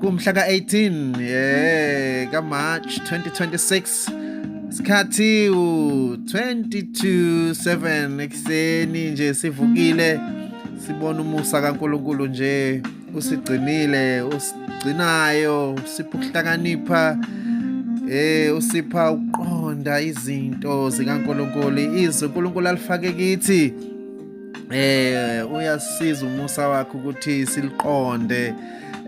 kumhla ka-18 yeah, kamarch 2026 sikhathi u-22:07 ekuseni nje sivukile sibona umusa kaNkuluNkulu nje usigcinile usigcinayo usipha ukuhlakanipha eh usipha uqonda izinto zikaNkuluNkulu izwi uNkuluNkulu alifake kithi eh uyasiza umusa wakhe ukuthi siliqonde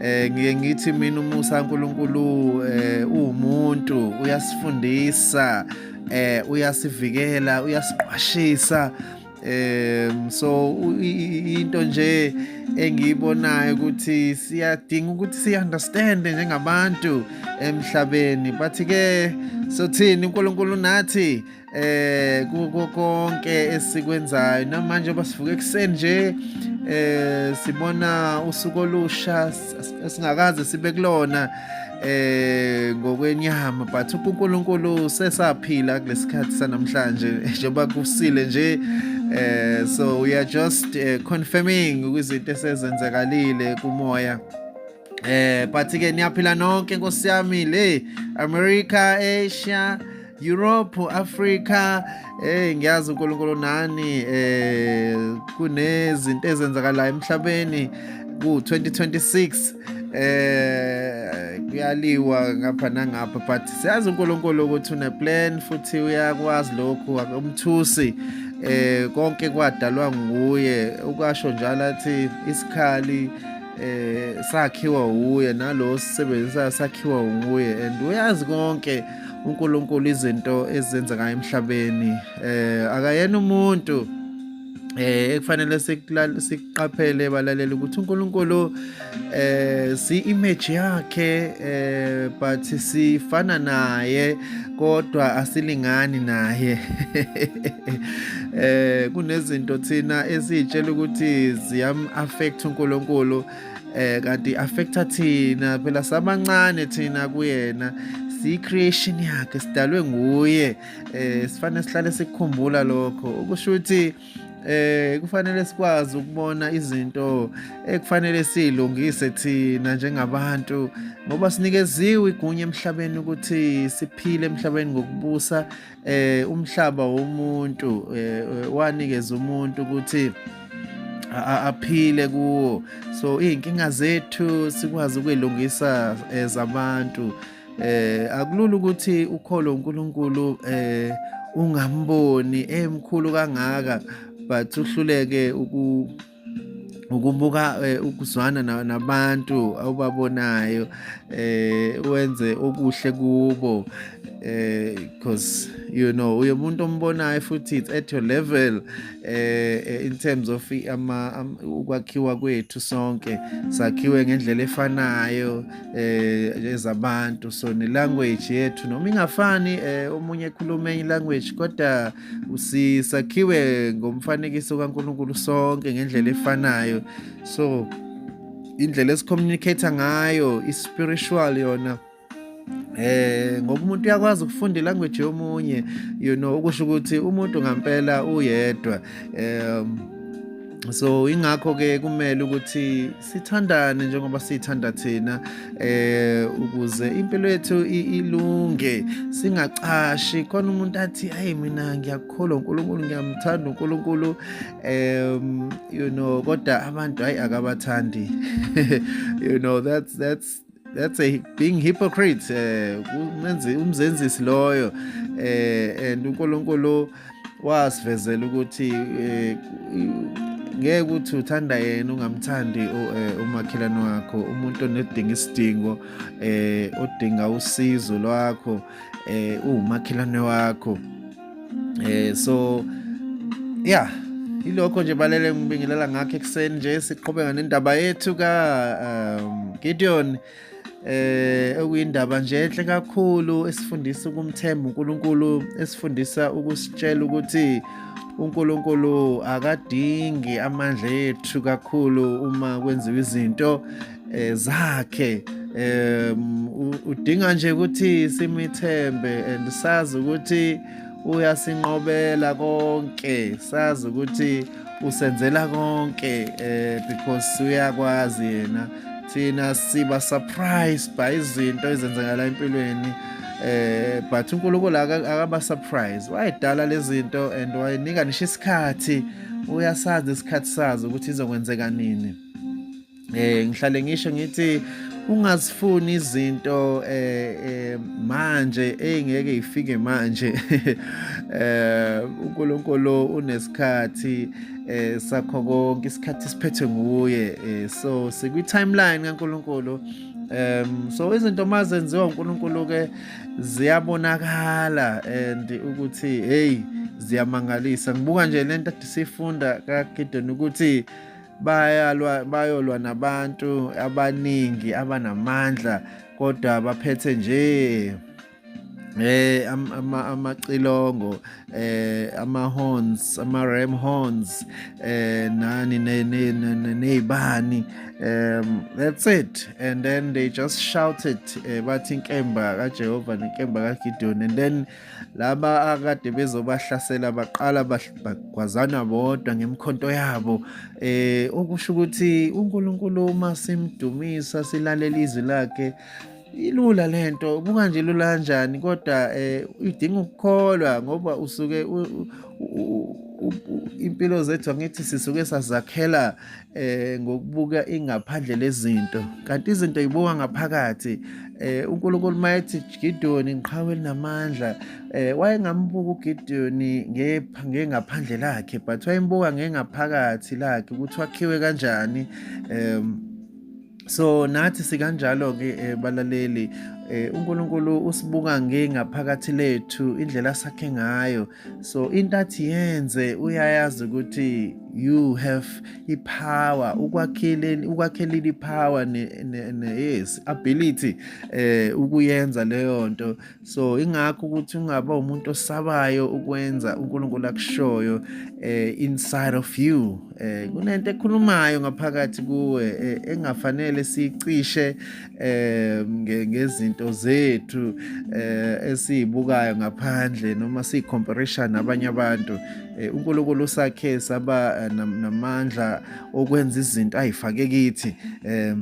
eh ngiye ngithi mina umusa uNkulunkulu eh uwumuntu uyasifundisa eh uyasivikela uyasiqwashisa eh so into nje engiyibonayo ukuthi siyadinga ukuthi si understand njengabantu emhlabeni bathi ke sothini uNkulunkulu nathi eh kuko konke esikwenzayo namanje basivuka ekuseni nje eh sibona usuku olusha singakaze sibe kulona eh ngokwenyama but uNkulunkulu sesaphila kulesikhathi sanamhlanje njengoba kusile nje eh so we are just uh, confirming izinto esezenzakalile kumoya eh but ke niyaphila nonke nkosi yami le America Asia Europe Africa eh ngiyazi uNkulunkulu nani eh kunezinto ezenzakalayo emhlabeni ku 2026 eh kuyaliwa ngapha nangapha but siyazi uNkulunkulu ukuthi une plan futhi uyakwazi lokhu umthusi eh konke kwadalwa nguye ukasho njalo athi isikhali eh sakhiwa uye nalo sisebenzisayo sakhiwa nguye and uyazi konke uNkulunkulu izinto ezenzeka emhlabeni eh akayena umuntu eh ekufanele siqaphele balalela ukuthi uNkulunkulu eh si image yakhe eh but sifana naye kodwa asilingani naye eh kunezinto thina esitshela ukuthi ziyam affect uNkulunkulu eh kanti affecta thina phela sabancane thina kuyena si creation yakhe sidalwe nguye eh sifanele sihlale sikukhumbula lokho ukusho ukuthi eh kufanele sikwazi ukubona izinto ekufanele silungise thina njengabantu ngoba sinikeziwe igunya emhlabeni ukuthi siphile emhlabeni ngokubusa eh umhlaba womuntu eh, wanikeza umuntu ukuthi aphile kuwo so izinkinga zethu sikwazi ukwelungisa ezabantu eh, Eh akulula ukuthi ukholo uNkulunkulu eh ungamboni emkhulu eh, kangaka but uhluleke uku ukubuka eh, ukuzwana nabantu awubabonayo eh wenze okuhle kubo eh because you know uye umuntu ombonayo futhi it's at your level eh, eh in terms of ama ukwakhiwa kwethu sonke sakhiwe ngendlela efanayo eh ezabantu so ne language yethu noma ingafani eh omunye ekhuluma enye language kodwa usisakhiwe ngomfanekiso kaNkuluNkulu sonke ngendlela efanayo so indlela esicommunicate ngayo ispiritual yona eh ngoba umuntu uyakwazi ukufunda ilanguage yomunye you know ukusho ukuthi umuntu ngampela uyedwa um so ingakho ke kumele ukuthi sithandane njengoba sithanda thina eh ukuze impilo yethu ilunge singacashi khona umuntu athi hayi mina ngiyakholwa uNkulunkulu ngiyamthanda uNkulunkulu um you know kodwa abantu hayi akabathandi you know that's that's that's a being hypocrite eh umenzi umzenzisi loyo eh and uNkulunkulu wasivezela ukuthi eh, ngeke ukuthi uthanda yena ungamthandi eh, umakhelwane wakho umuntu onedinga isidingo eh odinga usizo lwakho eh umakhelwane wakho eh so yeah ilokho nje balele ngibingelela ngakho ekuseni nje siqhubeka nendaba yethu ka um, Gideon eh okuyindaba nje enhle kakhulu esifundisa ukumthemba uNkulunkulu esifundisa ukusitshela ukuthi uNkulunkulu akadingi amandla ethu kakhulu uma kwenziwa izinto eh, zakhe um udinga nje ukuthi simithembe and sazi ukuthi uyasinqobela konke sazi ukuthi usenzela konke eh because uyakwazi yena thina siba surprised by izinto ezenzakala empilweni eh but uNkulunkulu akaba surprise wayedala lezinto and wayinika nisho isikhathi uyasazi isikhathi sazo ukuthi izokwenzeka nini eh ngihlale ngisho ngithi ungazifuni izinto eh, eh manje engeke ifike manje eh uNkulunkulu unesikhathi eh sakho konke isikhathi siphethwe nguye eh, so sikwi timeline kaNkulunkulu um so izinto mazenziwa uNkulunkulu ke ziyabonakala and ukuthi hey ziyamangalisa ngibuka nje lento sifunda kaGidon ukuthi bayalwa bayolwa nabantu abaningi abanamandla kodwa baphethe nje eh ama amacilongo eh ama horns ama ram horns eh nani nezibani um that's it and then they just shouted eh, bathi inkemba kaJehova nenkemba kaGideon and then laba akade bezobahlasela baqala bagwazana bodwa ngemkhonto yabo eh okusho ukuthi uNkulunkulu uma simdumisa silalela izwi lakhe ilula lento buka nje lula kanjani kodwa eh idinga ukukholwa ngoba usuke impilo zethu angithi sisuke sazakhela eh ngokubuka ingaphandle lezinto kanti izinto yibuka ngaphakathi eh uNkulunkulu mayethi Gideon ngiqhawe linamandla eh wayengambuka uGideon ngengaphandle lakhe but wayembuka ngengaphakathi lakhe ukuthi wakhiwe kanjani um so nathi sikanjalo ke eh, balaleli eh, uNkulunkulu usibuka ngengaphakathi lethu indlela sakhe ngayo so into athi yenze uyayazi ukuthi you have ipower ukwakheleni ukwakheleni ipower ne, ne, ne yes ability eh ukuyenza leyo nto so ingakho ukuthi ungaba umuntu osabayo ukwenza uNkulunkulu akushoyo eh inside of you eh kunento ekhulumayo ngaphakathi kuwe eh, engafanele sicishe eh ngezinto zethu eh esizibukayo ngaphandle noma sicompetition nabanye abantu eh, uNkulunkulu usakhe saba eh, namandla okwenza izinto ayifake kithi eh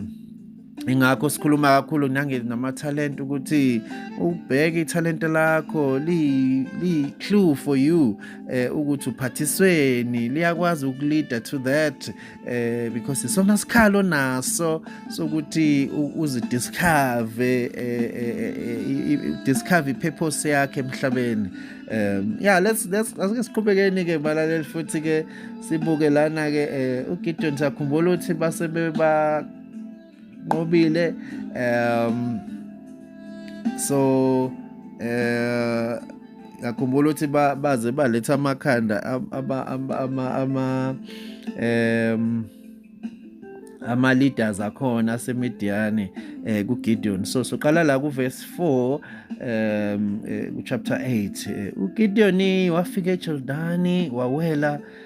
ingakho sikhuluma kakhulu nange namathalente ukuthi ubheke ithalente lakho li li clue for you eh ukuthi uphathisweni liyakwazi ukulida to that eh because isona sikhalo naso sokuthi uzidiscover eh, eh, eh, discover ipurpose yakhe emhlabeni um yeah let's let's asike siqhubekeni ke balaleli futhi ke sibuke lana ke uGideon sakhumbula ukuthi base beba nqobile um so eh ngakhumbula ukuthi baze baletha amakhanda ama ama ama um ama leaders akhona asemediane eh ku Gideon so soqala la ku verse 4 um eh, ku chapter 8 eh, u Gideon wafika eJordani wawela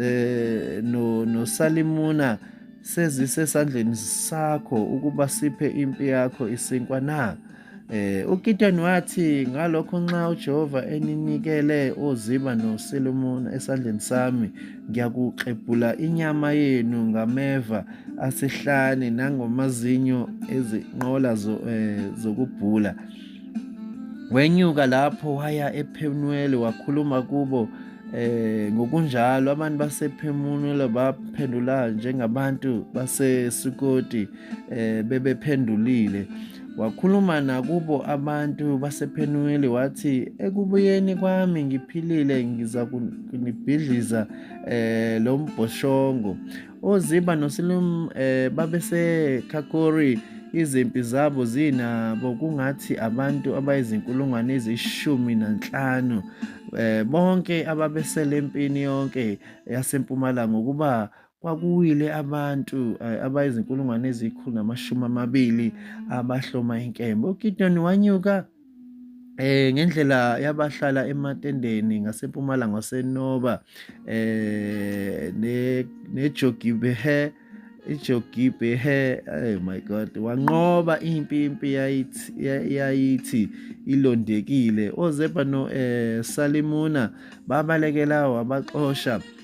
eh no nosalimuna sezisesandleni sakho ukuba siphe impi yakho isinkwa na eh uGideon wathi ngalokho nxa uJehova eninikele oziba noSolomon esandleni sami ngiyakuxebhula inyama yenu ngameva asihlane nangomazinyo ezinqola eh, zokubhula wenyuka lapho waya ePhenuwele wakhuluma kubo eh ngokunjalo abantu basephemunula baphendula njengabantu baseSukoti eh bebephendulile wakhuluma nakubo abantu basephenuweli wathi ekubuyeni kwami ngiphilile ngiza kunibhidliza eh lo mbhoshongo oziba nosilum eh babesekhakori izimpi zabo zinabo kungathi abantu abayizinkulungwane ezishumi nanhlanu eh bonke ababesele empini yonke yasempumalanga ukuba kwakuwile abantu eh, abayizinkulungwane ezikhulu namashumi amabili abahloma inkemba uGidoni wanyuka eh ngendlela yabahlala ematendeni ngasempumalanga wasenoba eh ne nejogibehe ijogibehe oh my god wanqoba impi impi yayithi yayithi ilondekile ozebha no eh salimuna babalekela wabaxosha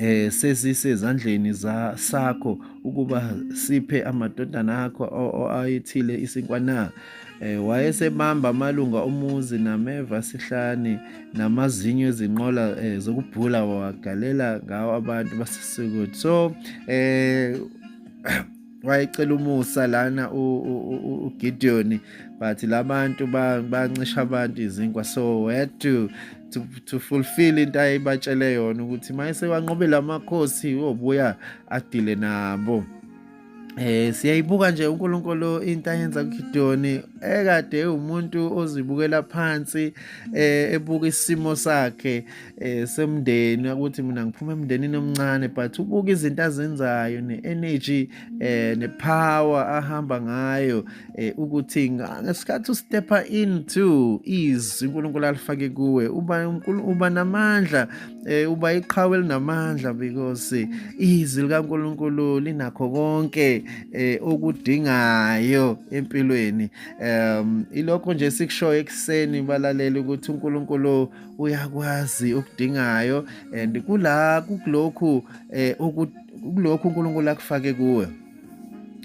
eh sesisezandleni za sakho ukuba siphe amadodana akho ayithile isinkwa na eh wayesebamba amalunga omuzi nameva sihlani namazinyo ezinqola eh, zokubhula wagalela ngawo abantu basisukuthi so eh wayecela umusa lana uGideon but labantu bancisha abantu izinkwa so we had to to, to fulfill into ayibatshele yona ukuthi mayese wanqobela amakhosi obuya adile nabo Eh siyayibuka nje uNkulunkulu into ayenza kuGidoni ekade umuntu ozibukela phansi eh ebuka isimo sakhe eh semndeni ukuthi mina ngiphuma emndenini omncane but ubuka izinto azenzayo ne-energy eh ne-power ahamba ngayo eh ukuthi ngesikhathi ustepha into izwi uNkulunkulu alifake kuwe uba uba namandla eh uba iqhawe elinamandla because izwi likaNkulunkulu linakho konke eh okudingayo empilweni um ilokho nje sikushoyo ekuseni balalela ukuthi uNkulunkulu uyakwazi ukudingayo and kula kulokhu eh kulokhu uNkulunkulu akufake kuwe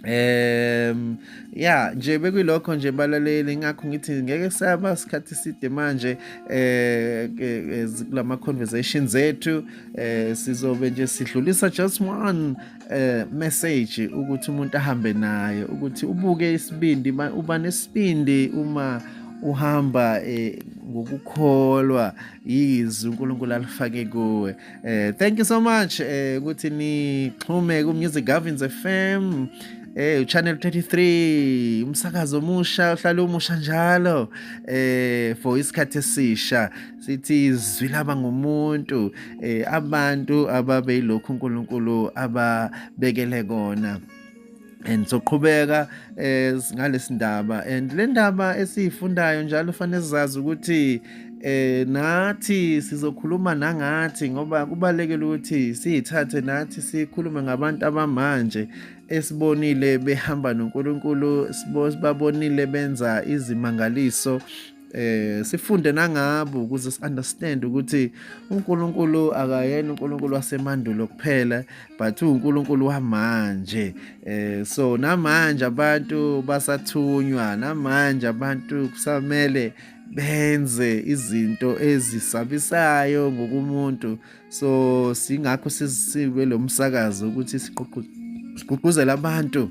um ya nje bekuyilokho nje balaleli ngakho ngithi ngeke saba isikhathi side manje eh, eh kulama conversations ethu eh sizobe nje sidlulisa just one eh message ukuthi umuntu ahambe naye ukuthi ubuke isibindi uba nesibindi uma uhamba eh ngokukholwa yizwi uNkulunkulu alifake kuwe eh thank you so much eh ukuthi nixhume ku Music Gavins FM eh channel 33 umsakazo omusha uhlala umusha njalo eh for isikhathi esisha sithi izwi laba ngumuntu eh abantu ababeyilokhu uNkulunkulu ababekele kona and soqhubeka eh ngalesi ndaba and le ndaba esiyifundayo njalo fanele sizazi ukuthi eh nathi sizokhuluma nangathi ngoba kubalekile ukuthi siyithathe nathi sikhulume ngabantu abamanje esibonile behamba noNkulunkulu sibabonile benza izimangaliso eh sifunde nangabo ukuze siunderstand ukuthi uNkulunkulu akayena uNkulunkulu wasemandulo kuphela but uNkulunkulu wamanje eh so namanje abantu basathunywa namanje abantu kusamele benze izinto ezisabisayo ngokumuntu so singakho sisibe lomsakazo ukuthi siqhuqhuzela abantu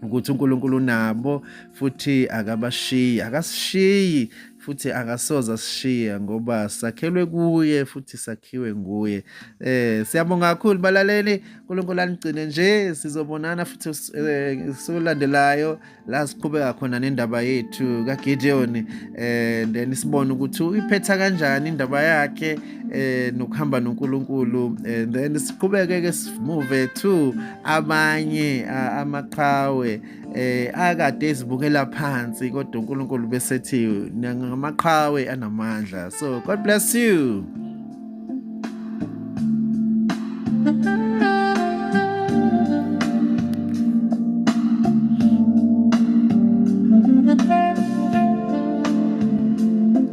ukuthi uNkulunkulu unabo futhi akabashiyi akasishiyi futhi akasoza sishiya ngoba sakhelwe kuye futhi sakhiwe nguye eh siyabonga kakhulu balaleli uNkulunkulu anigcine nje sizobonana futhi eh, solandelayo la siqhubeka khona nendaba yethu kaGideon eh then sibone ukuthi uyiphetha kanjani indaba yakhe eh nokuhamba noNkulunkulu and then siqhubeke ke move to abanye amaqhawe eh akade ezibukela phansi kodwa uNkulunkulu besethi ngamaqhawe anamandla so god bless you